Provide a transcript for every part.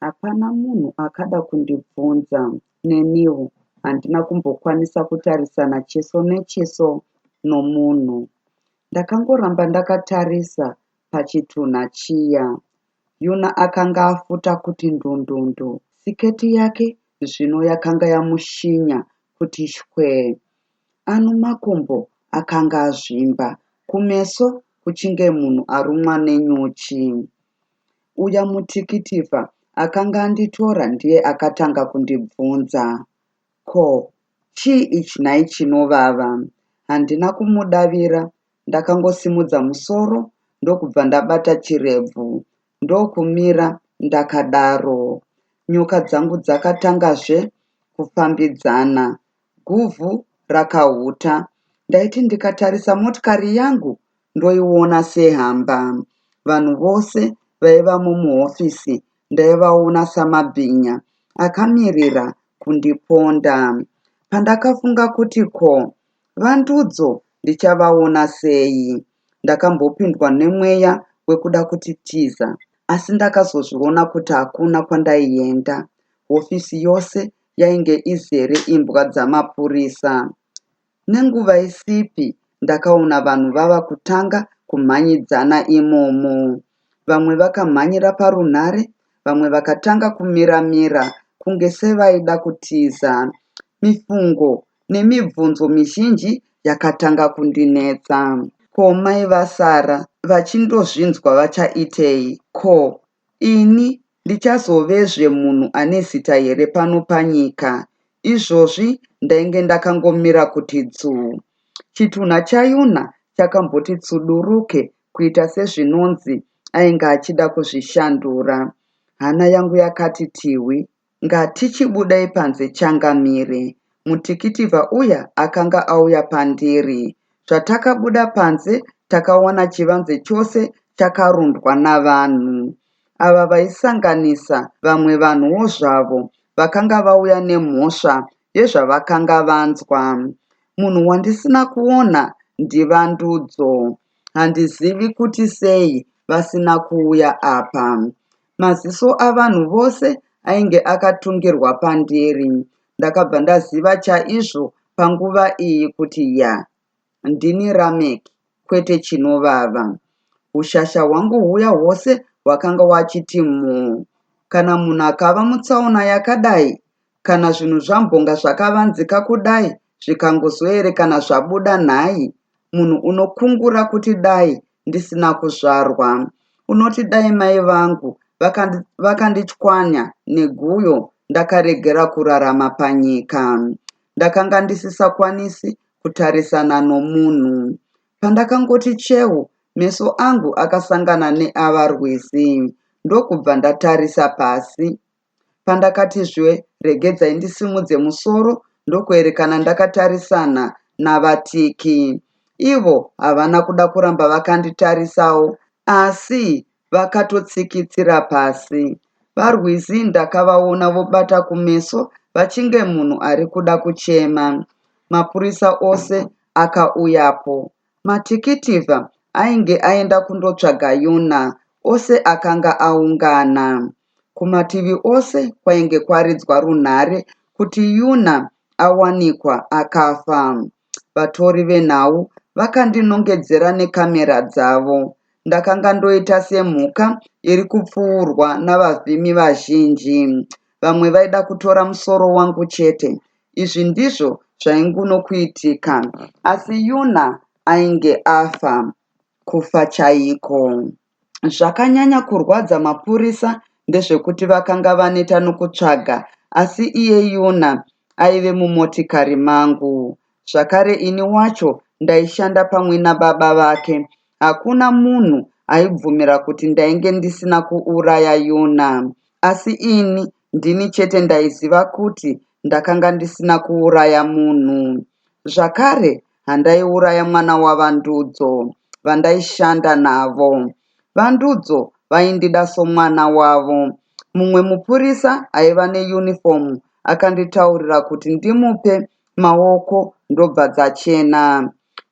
Hapana munhu akada kundibvunza, neniwo handina kumbokwanisa kutarisana chiso nechiso nomunhu. Ndakangoramba ndakatarisa pachitunha chiya. Yuna akanga afuta kuti ndundundu. Siketi yake zvino yakanga yamushinya kuti shwee. Ano makumbo akanga azvimba, kumeso kuchinge munhu arumwa nenyuchi. Uya mutikitifa akanga anditora ndiye akatanga kundibvunza ko chii ichi nhai chinovava. Handina kumudavira ndakangosimudza musoro ndokubva ndabata chirebvu ndokumira ndakadaro. Nyoka dzangu dzakatangazve kufambidzana. Guvhu rakahuta. Ndaiti ndikatarisa motikari yangu ndoiona sehamba. Vanhu vose vaivamo muhofisi ndaivaona samabhinya akamirira kundiponda. Pandakafunga kuti ko vandudzo ndichavaona sei, ndakambopindwa nemweya wekuda kutitiza asi ndakazozviona kuti hakuna kwandaienda. Hofisi yose yainge izere imbwa dzamapurisa. Nenguva isipi ndakaona vanhu vava kutanga kumhanyidzana imomo. Vamwe vakamhanyira parunhare, vamwe vakatanga kumira mira kunge sevaida kutiza. Mifungo nemibvunzo mizhinji yakatanga kundinetsa. Ko mai vasara vachindozvinzwa vachaitei? Ko Ini ndichazovezve munhu ane zita here pano panyika? Izvozvi ndainge ndakangomira kuti dzuu. Chitunha chaYuna chakamboti tsuduruke kuita sezvinonzi ainge achida kuzvishandura. Hana yangu yakati tihwi. Ngatichibudai panze Changamire. Mutikitivha uya akanga auya pandiri. Zvatakabuda panze takawana chivanze chose chakarundwa navanhu. Ava vaisanganisa vamwe vanhuwo zvavo vakanga vauya nemhosva yezvavakanga vanzwa. Munhu wandisina kuona ndiVandudzo. Handizivi kuti sei vasina kuuya apa. Maziso avanhu vose ainge akatungirwa pandiri. Ndakabva ndaziva chaizvo panguva iyi kuti yaa, ndini Rameck kwete Chinovava. Hushasha hwangu huya hwose hwakanga wachiti muu. Kana munhu akava mutsaona yakadai kana zvinhu zvambonga zvakavanzika kudai zvikangozoerekana zvabuda nhai munhu unokungura kuti dai ndisina kuzvarwa unoti dai mai vangu vakandichwanya vakandi neguyo ndakaregera kurarama panyika ndakanga ndisisakwanisi kutarisana nomunhu pandakangoti chehu meso angu akasangana neava rwizi ndokubva ndatarisa pasi Pandakati zhwe regedzai ndisimudze musoro ndokuerekana ndakatarisana naVaTiki. Ivo havana kuda kuramba vakanditarisawo asi vakatotsikitsira pasi. VaRwizi ndakavaona vobata kumeso vachinge munhu ari kuda kuchema. Mapurisa ose akauyapo. Matikitivha ainge aenda kundotsvaga Yona ose akanga aungana. Kumativi ose kwainge kwaridzwa runhare kuti Yuna awanikwa akafa. Vatori venhau vakandinongedzera nekamera dzavo. Ndakanga ndoita semhuka iri kupfuurwa navavhimi vazhinji. Vamwe vaida kutora musoro wangu chete izvi ndizvo zvainguno kuitika asi yuna ainge afa kufa chaiko zvakanyanya kurwadza mapurisa ndezvekuti vakanga vaneta nokutsvaga asi iye yuna aive mumotikari mangu zvakare ini wacho ndaishanda pamwe nababa vake hakuna munhu aibvumira kuti ndainge ndisina kuuraya yuna asi ini Ndini chete ndaiziva kuti ndakanga ndisina kuuraya munhu. Zvakare, handaiuraya mwana waVaNdudzo, vandaishanda navo. VaNdudzo vaindida somwana wavo. Mumwe mupurisa aiva neyunifomu akanditaurira kuti ndimupe maoko ndobva dzachena.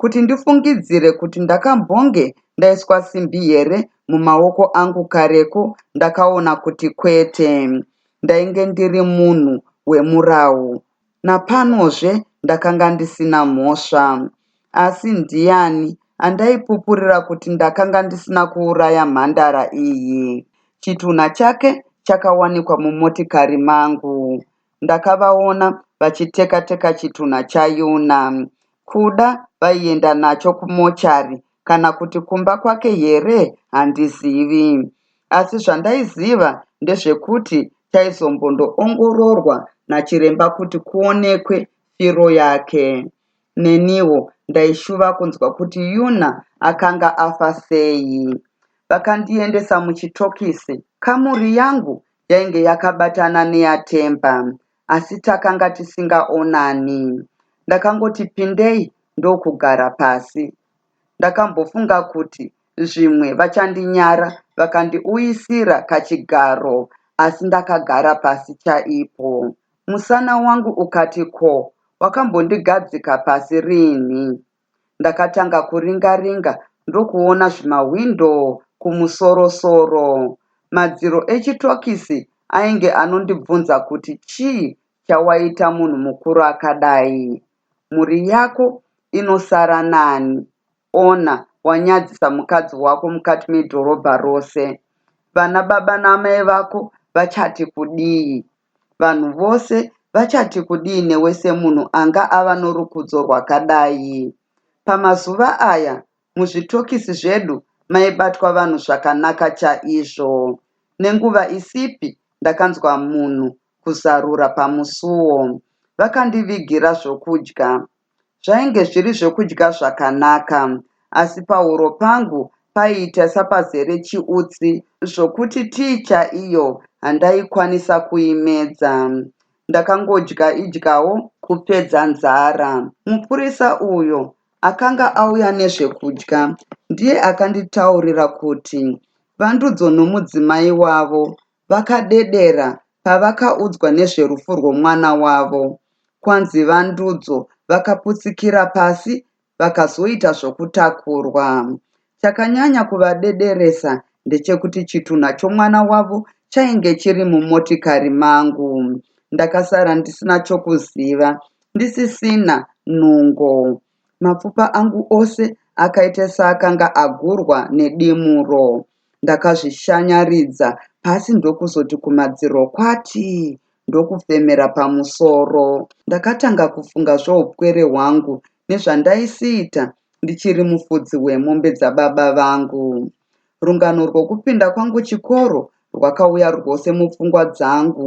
kuti ndifungidzire kuti ndakambonge ndaiswa simbi here mumaoko angu kareko ndakaona kuti kwete. Ndainge ndiri munhu wemurawu. Napanozve ndakanga ndisina mhosva. Asi ndiani andaipupurira kuti ndakanga ndisina kuuraya mhandara iyi. Chitunha chake chakawanikwa mumotikari mangu. ndakavaona vachiteka teka chitunha chaYuna. Kuda vaienda nacho kumochari kana kuti kumba kwake here handizivi. Asi zvandaiziva ndezvekuti chaizombondoongororwa nachiremba kuti kuonekwe firo yake. Neniwo ndaishuva kunzwa kuti Yuna akanga afa sei. Vakandiendesa muchitokisi, kamuri yangu yainge yakabatana neyaThemba asi takanga tisingaonani. Ndakangoti pindei ndokugara pasi. Ndakambofunga kuti zvimwe vachandinyara vakandiuyisira kachigaro asi ndakagara pasi chaipo. Musana wangu ukati ko, wakambondigadzika pasi rinhi? Ndakatanga kuringa ringa ndokuona zvima window kumusoro soro. Madziro echitokisi ainge anondibvunza kuti chii chawaita munhu mukuru akadai. Mhuri yako inosara nani ona wanyadzisa mukadzi wako mukati medhorobha rose. Vana baba naamai vako vachati kudii. Vanhu vose vachati kudii newe semunhu anga ava norukudzo rwakadai? Pamazuva aya, muzvitokisi zvedu maibatwa vanhu zvakanaka chaizvo. Nenguva isipi ndakanzwa munhu kuzarura pamusuo. Vakandivigira zvokudya. Zvainge zviri zvokudya zvakanaka, asi pahuro pangu paiita sapazere chiutsi zvokuti tii chaiyo handaikwanisa kuimedza. Ndakangodya idyawo kupedza nzara. Mupurisa uyo akanga auya nezvekudya ndiye akanditaurira kuti Vandudzo nomudzimai wavo vakadedera pavakaudzwa nezverufu rwemwana wavo kwanzi vandudzo vakaputsikira pasi vakazoita zvokutakurwa. Chakanyanya kuvadederesa ndechekuti chitunha chomwana wavo chainge chiri mumotikari mangu. Ndakasara ndisina chokuziva, ndisisina nungo. Mapfupa angu ose akaita seakanga agurwa nedimuro. Ndakazvishanyaridza pasi ndokuzoti kumadziro kwati ndokufemera pamusoro. Ndakatanga kufunga zvoupwere hwangu nezvandaisiita ndichiri mufudzi wemombe dzababa vangu. Rungano rwokupinda kwangu chikoro rwakauya rwose mupfungwa dzangu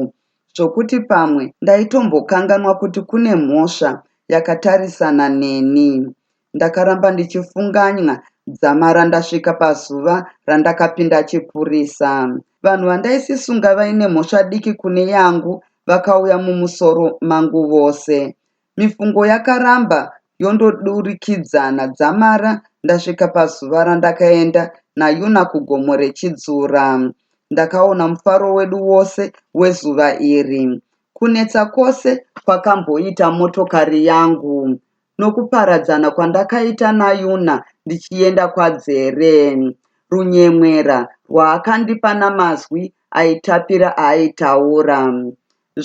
zvokuti pamwe ndaitombokanganwa kuti kune mhosva yakatarisana neni. Ndakaramba ndichifunganya dzamara ndasvika pazuva randakapinda chipurisa. Vanhu vandaisisunga vaine mhosva diki kune yangu vakauya mumusoro mangu vose. Mifungo yakaramba yondodurikidzana dzamara ndasvika pazuva randakaenda naYuna kugomo reChidzura. Ndakaona mufaro wedu wose wezuva iri. Kunetsa kwose kwakamboita motokari yangu nokuparadzana kwandakaita naYuna ndichienda kwaDzere. Runyemwera rwaakandipa namazwi aitapira aaitaura.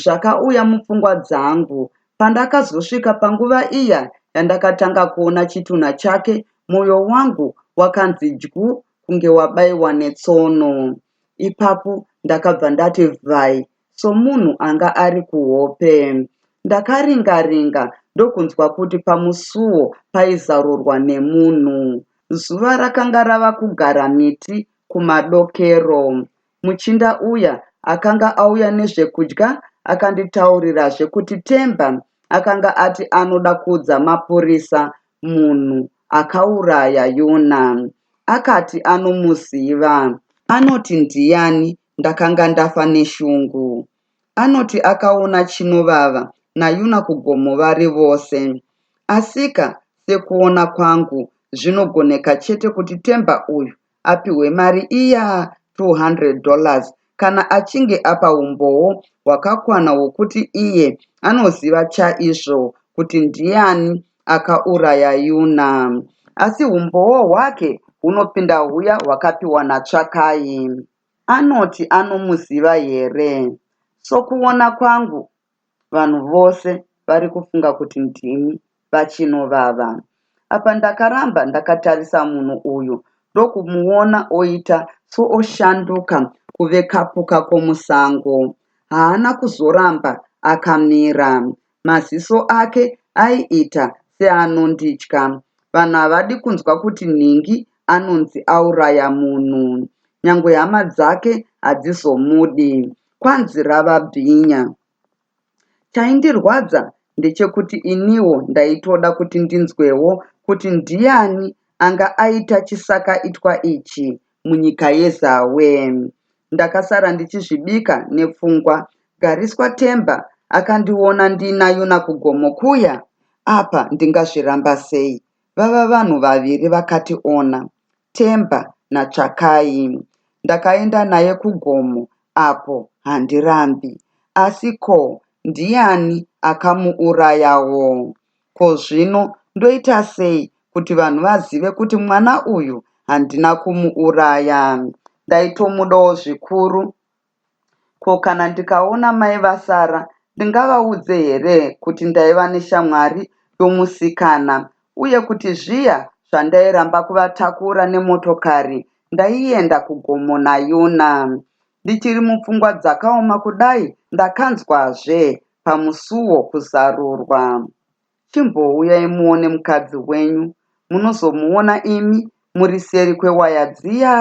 zvakauya mupfungwa dzangu. Pandakazosvika panguva iya yandakatanga kuona chitunha chake, moyo wangu wakanzi dyu kunge wabaiwa netsono. Ipapo ndakabva ndati vhai somunhu anga ari kuhope. Ndakaringa-ringa ndokunzwa kuti pamusuwo paizarurwa nemunhu. Zuva rakanga rava kugara miti kumadokero. muchinda uya akanga auya nezvekudya akanditaurirazve kuti Themba akanga ati anoda kuudza mapurisa munhu akauraya Yona. Akati anomuziva. Anoti ndiyani? Ndakanga ndafa neshungu. Anoti akaona Chinovava naYuna kugomo vari vose. Asika sekuona kwangu zvinogoneka chete kuti Themba uyu apihwe mari iya 200 dollars kana achinge apa umbowo hwakakwana hwokuti iye anoziva chaizvo kuti ndiani akauraya Yuna. Asi humbowo hwake hunopinda huya hwakapiwa naTsvakai. Anoti anomuziva here? Sokuona kwangu, vanhu vose varikufunga kuti ndimi vaChinovava. Apa ndakaramba ndakatarisa munhu uyu ndokumuona oita sooshanduka kuve kapuka komusango. Haana kuzoramba akamira. Maziso ake aiita seanonditya. Vanhu havadi kunzwa kuti nhingi anonzi auraya munhu. Nyangwe hama dzake hadzizomudi. kwanzi rava bhinya. Chaindirwadza ndechekuti iniwo ndaitoda kuti ndinzwewo kuti ndiyani anga aita chisakaitwa ichi munyika yeZawe. Ndakasara ndichizvibika nepfungwa. Gariswa Themba akandiona ndina Yuna kugomo kuya apa ndingazviramba sei vava vanhu vaviri vakati ona. Themba naTsvakai. Ndakaenda naye kugomo apo handirambi. Asi ko ndiani akamuurayawo? Ko zvino ndoita sei kuti vanhu vazive kuti mwana uyu handina kumuuraya? Ndaitomudawo zvikuru Ko kana ndikaona mai vasara ndingavaudze here kuti ndaiva neshamwari yomusikana uye kuti zviya zvandairamba kuvatakura nemotokari ndaienda kugomo naYona? Ndichiri mupfungwa dzakaoma kudai ndakanzwazve pamusuwo kuzarurwa. Chimbouyai muone mukadzi wenyu munozomuona imi muri seri kwewaya dziya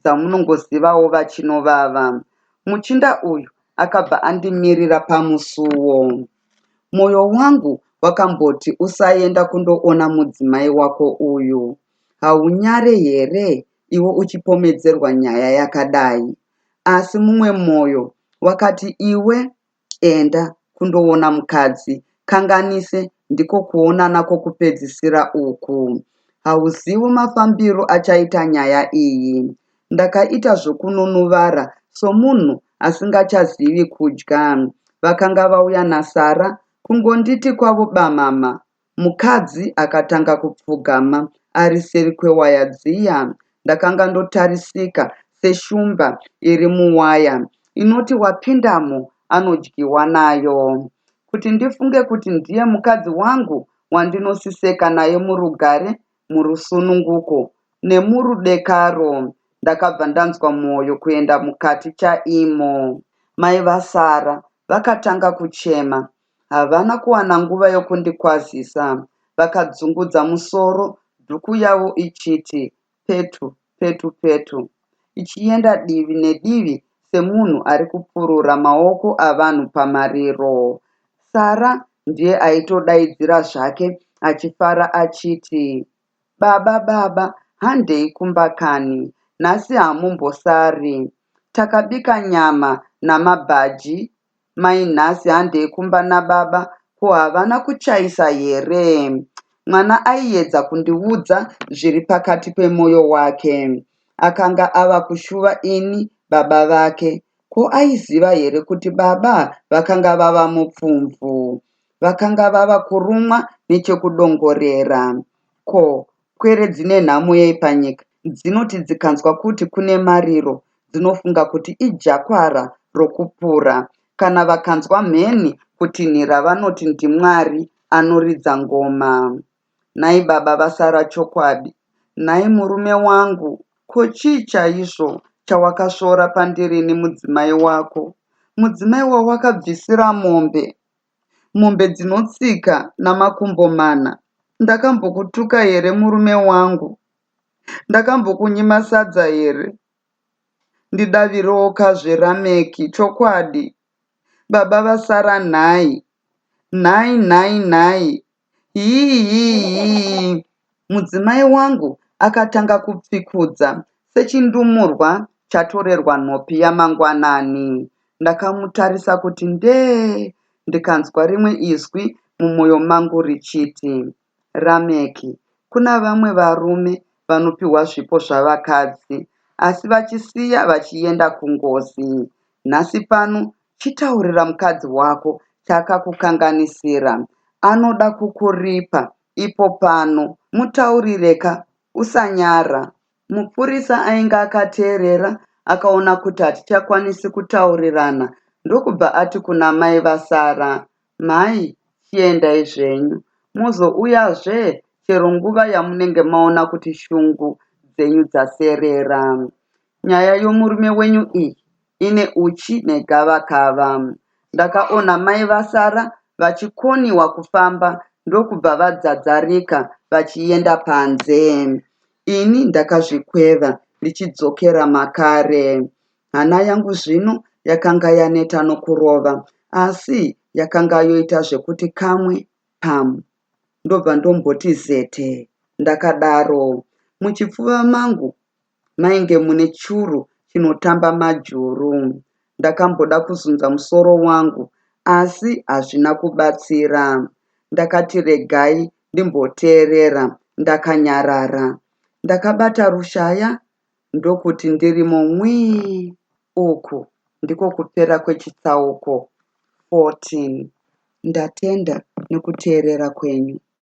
dzamunongozivawo vachinovava. Muchinda uyu akabva andimirira pamusuwo. Moyo wangu wakamboti usaenda kundoona mudzimai wako uyu. Haunyare here iwe uchipomedzerwa nyaya yakadai? Asi mumwe moyo wakati iwe enda kundoona mukadzi kanganise ndiko kuonana kokupedzisira uku. Hauzivo mafambiro achaita nyaya iyi. Ndakaita zvokununuvara somunhu asingachazivi kudya. Vakanga vauya naSara kungonditi kwavo bamama Mukadzi akatanga kupfugama ari seri kwewaya dziya. Ndakanga ndotarisika seshumba iri muwaya inoti wapindamo anodyiwa nayo. Kuti ndifunge kuti ndiye mukadzi wangu wandinosiseka naye murugare, murusununguko nemurudekaro ndakabva ndanzwa mwoyo kuenda mukati chaimo. Mai vaSarah vakatanga kuchema Havana kuwana nguva yokundikwazisa. Vakadzungudza musoro, dhuku yavo ichiti petu, petu, petu, ichienda divi nedivi semunhu ari kupurura maoko avanhu pamariro. Sara ndiye aitodaidzira zvake achifara achiti, Baba, baba, handei kumba kani. Nhasi hamumbosari. Takabika nyama namabhaji Mai nhasi handei kumba nababa ko havana kuchaisa here? Mwana aiedza kundiudza zviri pakati pemoyo wake. Akanga ava kushuva ini baba vake. Ko aiziva here kuti baba vakanga vava mupfumvu? Vakanga vava kurumwa nechekudongorera. Ko Pwere dzine nhamo yei panyika? Dzinoti dzikanzwa kuti kune mariro dzinofunga kuti ijakwara rokupura. Kana vakanzwa mheni kutinhira vanoti ndiMwari anoridza ngoma. Nhai baba vasara chokwadi? Nhai murume wangu, ko chii chaizvo chawakasvora pandiri nemudzimai wako? Mudzimai wawakabvisira mombe? mombe dzinotsika namakumbo mana ndakambokutuka here murume wangu ndakambokunyima sadza here ndidavirewoka zveRameki chokwadi baba vasara nhai nhai nhai nhai Hiihii! Mudzimai wangu akatanga kupfikudza sechindumurwa chatorerwa nhopi yamangwanani. Ndakamutarisa kuti ndee ndikanzwa rimwe izwi mumoyo mangu richiti, Rameki, kuna vamwe varume vanopiwa zvipo zvavakadzi asi vachisiya vachienda kungozi. Nhasi pano Chitaurira mukadzi wako chaakakukanganisira anoda kukuripa ipo pano mutaurire ka usanyara. Mupurisa ainge akateerera akaona kuti hatichakwanisi kutaurirana ndokubva ati kuna mai vaSarah Mhai chiendai zvenyu muzouyazve chero nguva yamunenge maona kuti shungu dzenyu dzaserera. Nyaya yomurume wenyu iyi ine uchi negavakava. Ndakaona mai vasara vachikoniwa kufamba ndokubva vadzadzarika vachienda panze. Ini ndakazvikweva ndichidzokera makare. Hana yangu zvino yakanga yaneta nokurova, asi yakanga yoita zvekuti kamwe, pam, ndobva ndomboti zete. Ndakadaro. Muchipfuva mangu mainge mune churu chinotamba majuru. Ndakamboda kuzunza musoro wangu, asi hazvina kubatsira. Ndakati regai ndimboteerera ndakanyarara. Ndakabata rushaya Ndokuti ndirimo nwii uku ndiko kupera kwechitsauko 14. Ndatenda nokuteerera kwenyu.